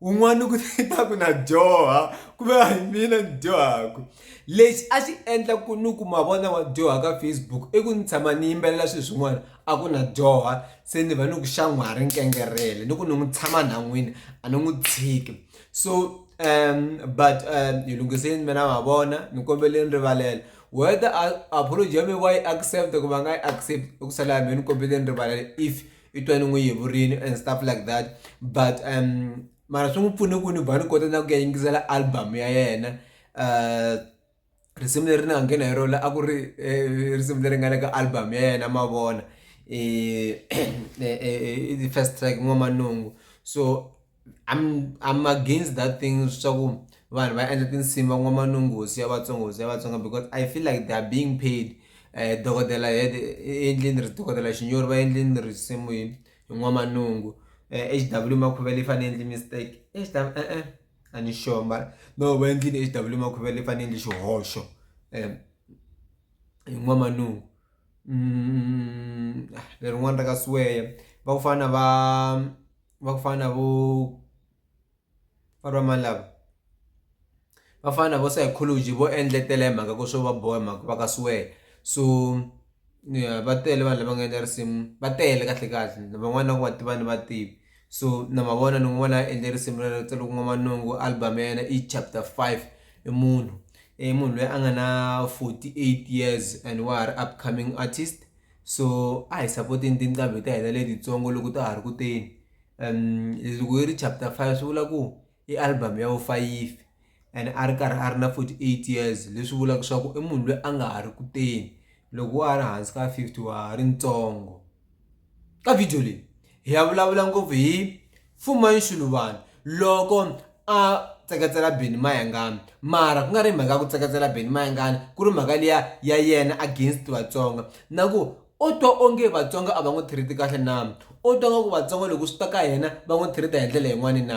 un'wana ku ta ku na dyoha ku ve hi mina ni dyohaka lexi a xi endla ku ni ku ma vona wa dyoha ka facebook i ku ni tshama ni yimbelela swilo swin'wana a ku na dyoha se ni va ni ku xan'wa ri nkengerhele ni ku ni n'wi tshama nhan'wini a ni n'wi tshiki so um but um hi lunghiseni mina ma vona ni kombeleni rivalela whether apology ya mi wa yi accept ku va nga yi accept i ku sala ya mina ni kombeleni rivalela if i twa ni n'wi yevurile and stuff like that but um mara swi n'wi pfune ku ni ba ni kota na ku ya yingisela album ya yena um risimu leri ni nga nghena hi rona a ku ri eh, risimu leri nga le ka album ya yena mavona um first track n'wamanungu so I'm I'm against that thing swa ku vanhu va endla tinsimu va n'wa manungusi ya vatsongo hosi ya vatsonga because I feel like they are being paid eh dokodela head i endlini ri dokodela xinyori va endlini risimu hi hi n'wamanungu H_W makhuvele i fane endli mistake e-e a ni sure mara no va endlile H_W makhuvele i fane endli xihoxo hi n'wamanungu lerin'wani ra ka Siweya va ku fana va. va ku fana na vo valwa mani lava va fana na vo psychology vo endletela hi mhaka ku swo va boha hi mhaka va ka swear so va tele vanhu lava nga endla risimu va tele kahle kahle ni van'wani na ku va tiva ni va tivi so na mavona ni n'wi vona a endle risimu ra ku nga Manungu album ya yena i chapter five i munhu i munhu loyi a nga na forty eight years and wa ha ri upcoming artist. so a hi sapoteni tinqambi ta hina letitsongo loko ta ha ri kuteni um loko yi ri chapter five swi vula ku i album ya vufayifi and a ri karhi a ri na forty eight years leswi vulaka swa ku i munhu loyi a nga ha ri kuteni loko wa ha ri hansi ka fifty wa ha ri ntsongo ka video leyi hi ya vulavula ngopfu hi Mfumo wa Nshuluvana loko a tseketsela Benny Mayengani mara ku nga ri mhaka ya ku tseketsela Benny Mayengani ku ri mhaka liya ya yena against Vatsonga na ku o twa onge Vatsonga a va n'wi treat kahle na o twa nga ku Vatsonga loko swi ta ka yena va n'wi treat hi ndlela yin'wani na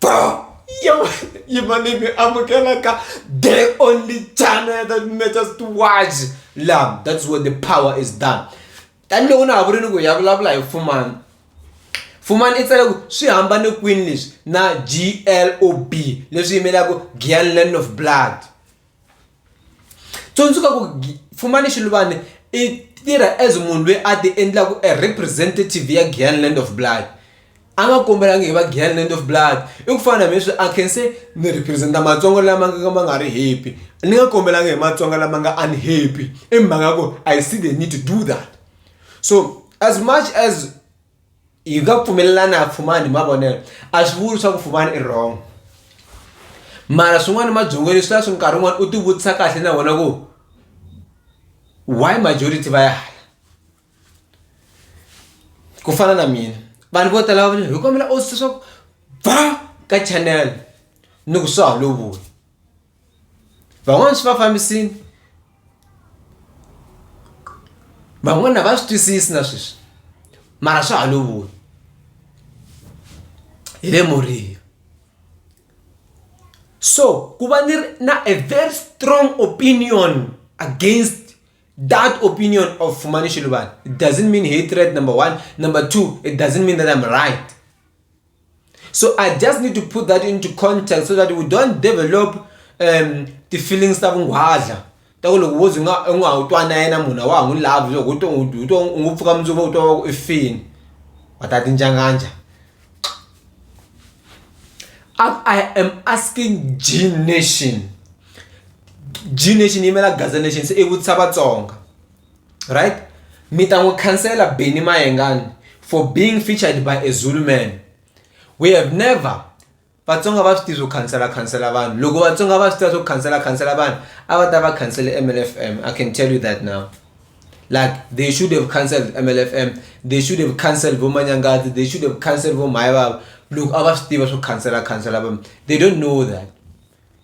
Bro, you, you made me amukela ka the only channel that matters to watch. Love, that's where the power is done. taniloko na ha vuri ni ku ya vulavula hi fumani fumani i tsale ku swi hambane kwini leswi na glob leswi yimelaka gianland of blood tsundzuka ku Pfumani Xiluvane i tirha as munhu loyi a ti endlaku a representative ya Giyani Land of Blood a nga kombelangi hi va Giyani Land of Blood i ku fana na hambi leswi a khe se ni represent-a matsongo lama nga ka ma nga ri happy ni nga kombelanga hi matsonga lama nga unhappy i mhaka ya ku I see the need to do that so as much as. yi nga pfumelelani a pfumani hi mavonelo a swi vuli swa ku pfumani i wrong mara swin'wana mabyongweni swi la swi nkarhi wun'wana u ti vutisa kahle na vona ku why majority va ya hala ku fana na mina vanhu vo tala va hi kombela u swa ku ba ka channel ni ku swa ha lovuli van'wana swi va fambisini van'wana va swi twisisi na sweswi mara swa ha lovuya hi le moriya so ku va ni ri na a very strong opinion against that opinion of fumani xiluvana it doesn't mean hatred number one number two it doesn't mean that I'm right. so i just need to put that into context so that we don't develop um ti-feelings ta vunghwadla ta ku loko wo ze nga u nga ha wu twa na yena munhu a wa ha n'wi lavi loko u to u to u ngo pfuka mundzuku u twa va ku i fini wa ta tinjanganja i am asking g nation g nation yi yimela gaza nation se i vutisa vatsonga right mi ta n'wi khansela Benny Mayengani for being featured by a Zulu man we have never vatsonga va swi tiva swo khansela khansela vanhu loko vatsonga va swi tiva swo khansela khansela vanhu a va ta va khansele mlfm i can tell you that now like they should have cancelled mlfm they should have cancelled vomanyangati they should have cancelled vomhayivava loko a va swi tiva swo khansela khansela vanhu they don't know that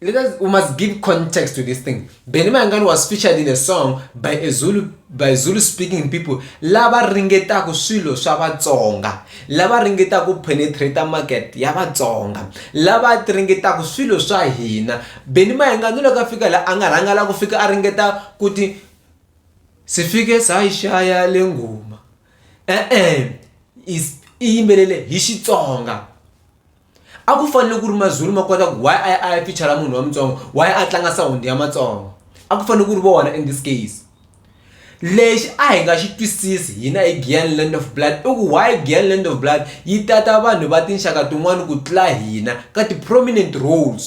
Because we must give context to this thing. Benny Mayengani was featured in a song by a Zulu by Zulu speaking people lava ringetaku swilo swa Vatsonga, lava ringetaku penetrate market ya Vatsonga, lava ringetaku swilo swa hina. Benny Mayengani loko a fika la a nga rhanga la ku fika a ringeta ku ti si fike sa yi xaya le ngoma e-e i yimbelele hi Xitsonga. a ku fanele ku ri mazulu ma kota ku why a a ya fichara munhu wa mutsongo why a tlanga sound ya matsongo a ku fanele ku ri vona in this case lexi a hi nga xi twisisi hina hi giyan land of blood i ku why giyan land of blood yi tata vanhu va tinxaka tin'wani ku tlula hina ka ti-prominent roles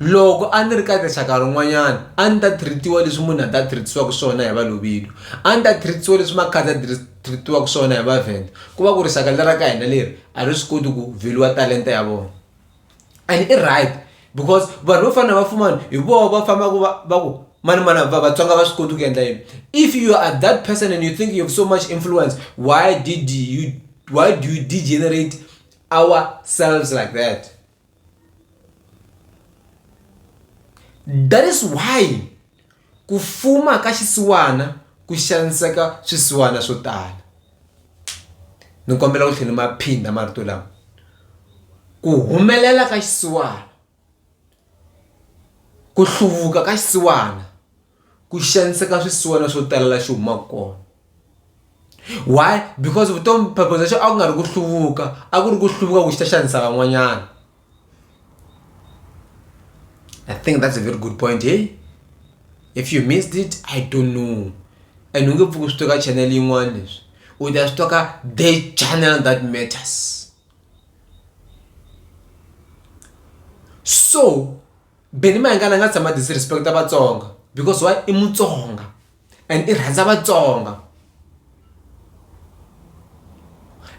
loko a ni ri ka rixaka rin'wanyana a ni ta treat-iwa leswi munhu a ta treat-isiwaka swona hi valobedu a ni ta treat-isiwa leswi makhadzi a treat-iwaka swona hi vavhenda ku va ku rixaka leri ra ka hina leri a ri swi koti ku vheliwa talenta ya vona and i right because vanhu vo fana na vafumana hi vona va fambaka va va ku mani mani va vatsonga va swi koti ku endla yini if you are that person and you think you have so much influence why did you why do you degenerate ourselves like that. That is why ku fuma ka xisiwana ku xaniseka swisiwana swo tala ni kombela ku tlhela ma phinda marito lama ku humelela ka xisiwana ku hluvuka ka xisiwana. ku xaniseka swisiwana swo tala la xi humaka kona why because vutomi phepho xa a ku nga ri ku hluvuka a ku ri ku hluvuka ku xi ta xanisa van'wanyana i think that's a very good point hey if you missed it i don't know and u nge pfuki swi tweka channel yin'wana leswi u ta swi tweka the channel that matters so Benny Mayengani a nga tshama disrespect-a Vatsonga because why i Mutsonga and i rhandza Vatsonga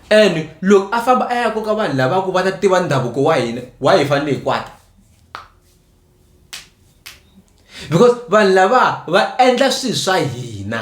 and loko a famba a ya koka vanhu lava ku va ta tiva ndhavuko wa hina why hi fanele hi kwata because vanhu lava va endla swilo swa hina.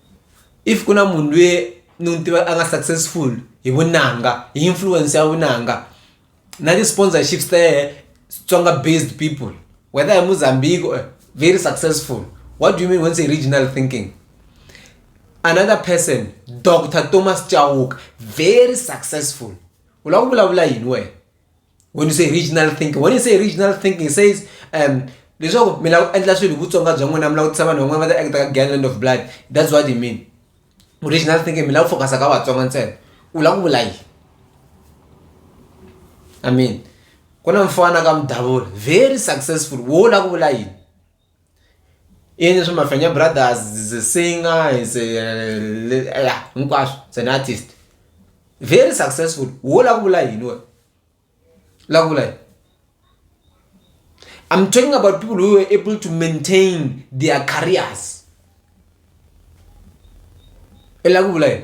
if ku na munhu lweyi ni n'wi tiva a nga successful hi vunanga hi influence ya vunanga na ti-sponsorships ta yehe Xitsonga based people whether hi Mozambique or very successful what do you mean when say regional thinking another person Doctor Thomas Chauke very successful u lava ku vulavula yini wena when you say regional thinking when you say regional thinking it says um leswaku mi lava ku endla swilo hi vutsonga bya n'wina mi lava ku tisa vanhu van'wana va ta act ka gangland of blood that's what you mean regional thinking mi lava ku focus-a ka vatsonga ntsena u lava ku vula yini i mean ku na mfana ka mudavula very successful wo lava ku vula yini yini leswi mafenya brothers is a singer is a ya hinkwaswo is an artist very successful wo la ku vula yini wena la ku vula yini I'm talking about people who were able to maintain their careers. Ela ku vula yini?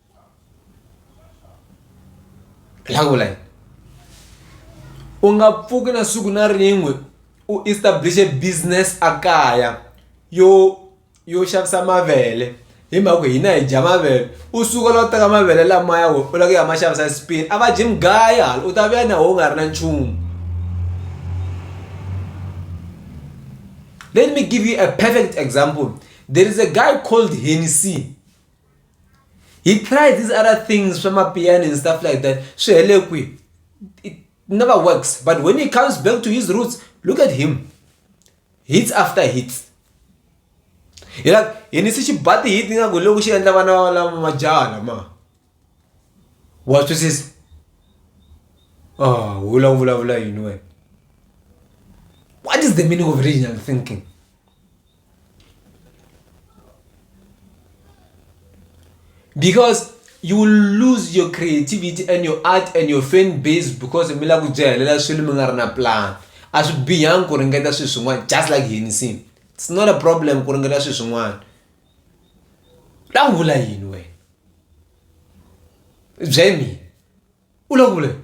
la ku vula yini u nga pfuki na siku na rin'we u establish-e business a kaya yo yo xavisa mavele hi mhaka ku hina hi dya mavele u suka la u teka mavele lamaya we u lava ku ya ma xavisa spain a va dyi mugaya hala u ta vuya na wo u nga ri na nchumu let me give you a perfect example there is a guy called henny c he tried these other things swa mapiano and stuff like that swi hele kwihi it never works but when he comes back to his roots look at him hits after hits hi la hi ni si xi ba ti-hit ni nga ku loko xi endla vana va lava majaha lama wa twisisa ah wu la ku vulavula yini wena what is the meaning of regional thinking because you will lose your creativity and your art and your fan base because mi lava ku byi helela swilo mi nga ri na plan a swi bihangi ku ringeta swilo swin'wana just like hini sin it's not a problem ku ringeta swilo swin'wana la ku vula yini wena byela mina u la ku vula yini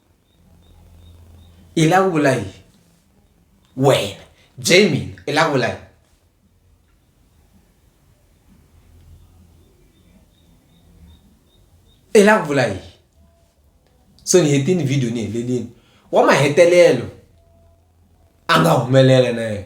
i la ku vula yini wena jamie i la ku vula yini i la ku vula yini so ni hetini video ni helelini wa mahetelelo a nga humelela na yena